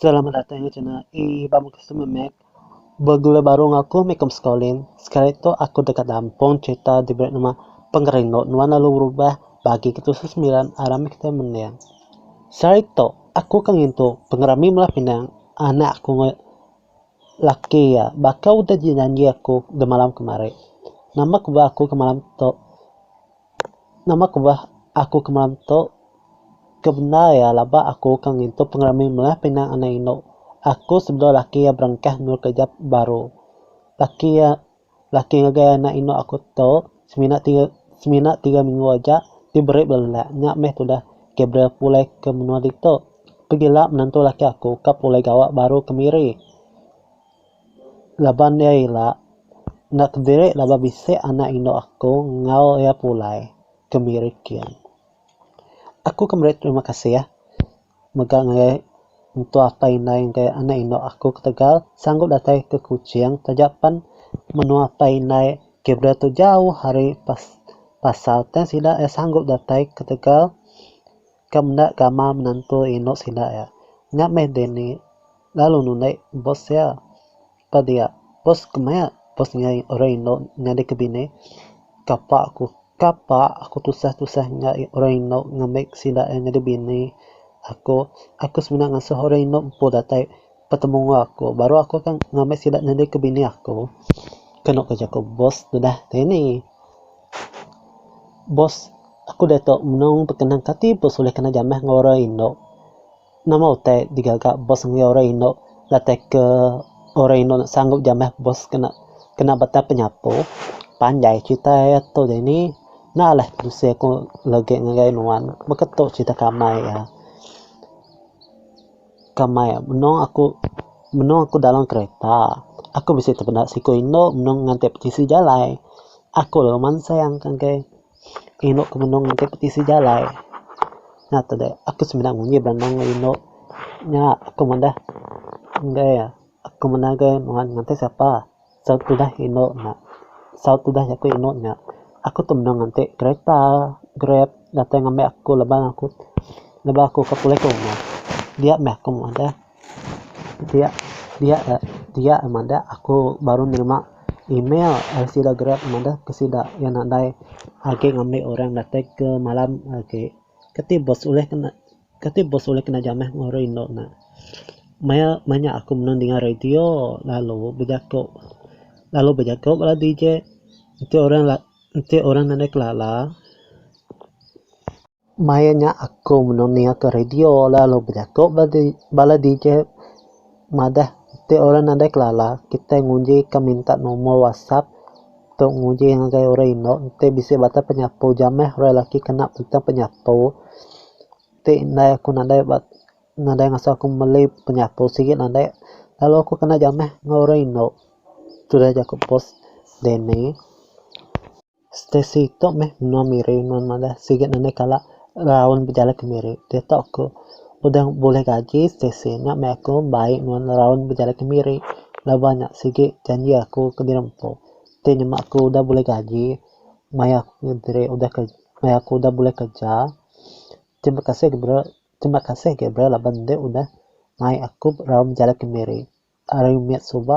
Selamat datang ke channel E ba muka semua Mac. Bergula baru enggau aku meh kom sekolin. Sekali tu aku deka nampung cerita diberi nama Pengerindu Nuan Lalu Berubah bagi ke tusu sembilan arah meh kitai mending. Sehari tu aku ke ngintu pengerami melah pinang anak aku enggau laki iya baka udah dijanji aku demalam kemari. Nama ku ba aku ke malam tu. Nama ku beh aku ke malam tu ke bendar iya laba aku ke ngintu pengerami melah pinang anak indu aku sebedau laki iya berengkah endur kerja baru. Laki iya laki ngagai anak indu aku tu semina tiga semina tiga minggu aja ti beri bala lelak nya meh tudah Gabriel pulai ke menua ditu. Pegila menantu laki aku ka pulai gawa baru ke miri. Laban iya ila, enda kediri laban bisi anak indu aku enggau iya pulai ke miri kin. Aku ke meri terima kasih mega ngagai mentua apai indai enggau anak indu aku ketegal sanggup datai ke Kuching taja pen menua apai indai Gabriel tu jauh ari pasar tang sida iya sanggup datai ketegal Kam enda gamal menantu indu sida ya. Nya meh Danny lalu nulik bos ya. Pa dia, bos ke maya bos enggau orang indu nyadi ke bini. Kapa aku, kapa aku tusah tusah enggau orang indu ngambi sida ya nyadi bini aku. Aku semina ngasuh orang indu empu datai betemu enggau aku baru aku akan ngambi sida nyadi ke bini aku. Kenu ke jaku bos deh Danny. Boss aku diatu menong bekenang kati boss ulih kena jamah enggau orang indu. Nama utai digaga boss ngagai orang indu latak ke orang indu enda sanggup jamah boss kena kena batang penyapu. Panjai cerita iya tu dini enda alai bisi aku legi ngagai nuan baka tu cerita ke amai iya. Ke mai meno aku meno aku dalam kereta aku bisi tepeda siku indu meno nganti petisi jalai aku lalu mansang ka angkai indu ku meno nganti petisi jalai nya tede aku semina nguji bala anang lalu indu nya aku meda enggai aku meda ga nuan nganti sapa. Saut tudah indu nya. Saut tudah jaku indu nya. Aku tu mendung nganti kereta, grab, datai ngambi aku laban aku laban aku ka pulih ka rumah. Dia meh aku madah. Dia dia dia madah aku baru nerima email ari sida grab madah ke sida iya nadai agi ngambi orang datai ke malam agi. Kati bos ulih ke. Kati bos ulih kena jamah enggau orang indu nya. Maya manya aku menang dinga radio lalu bejaku lalu bejaku bala DJ enti orang enti orang nadai kelala maya nya aku menang ninga ke radio lalu bejaku bala DJ. Madah ti orang nadai kelala kitai nguji ka minta nomor whatsapp tu nguji ngagai orang indu enti bisi batang penyapu jameh orang lelaki kena batang penyapu ti endai aku nadai ba nadai ngasuh aku meli penyapu sigi nadai lalu aku kena jameh enggau orang indu tu udah jaku post dini. Stacey, tu meh menua Miri nuan madah siget nadai kala raun bejalai ke Miri. Diatu aku udah bulih gaji Stacey nya meh aku bai nuan raun bejalai ke Miri laban nya sigi janji aku ke diri empu. Ti nyema aku udah bulih gaji maya aku diri udah kerja maya aku udah bulih kerja. Terima kasih Gabriel terima kasih Gabriel laban deh udah mai aku raun bejalai ke Miri. Ari mit suba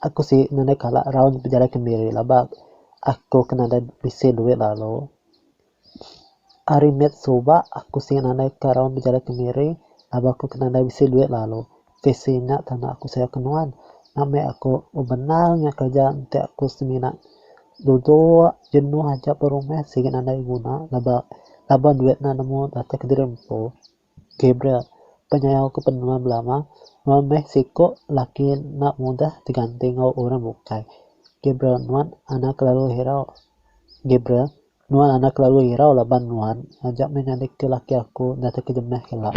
aku silik nadai kala raun bejalai kendiri laba aku ke nadai bisi duit lalu. Ari mit suba aku silik nadai ke raun bejalai kendiri laba aku ke nadai bisi duit lalu. PC nya tana aku sayau ke nuan nak meh aku benar nya kerja enti aku semina duduk jenuh aja ba rumah silik nadai guna laba laba duit nya nemu datai kendiri empu. Gabriel, penyayau ke penua belama, nuan meh siko laki enda mudah diganti enggau orang bukai. Gabriel, nuan enda kelalu hirau. Gabriel, nuan enda kelalu hirau laban nuan aja meh ngadik ke laki aku enda tau kejemeh kala.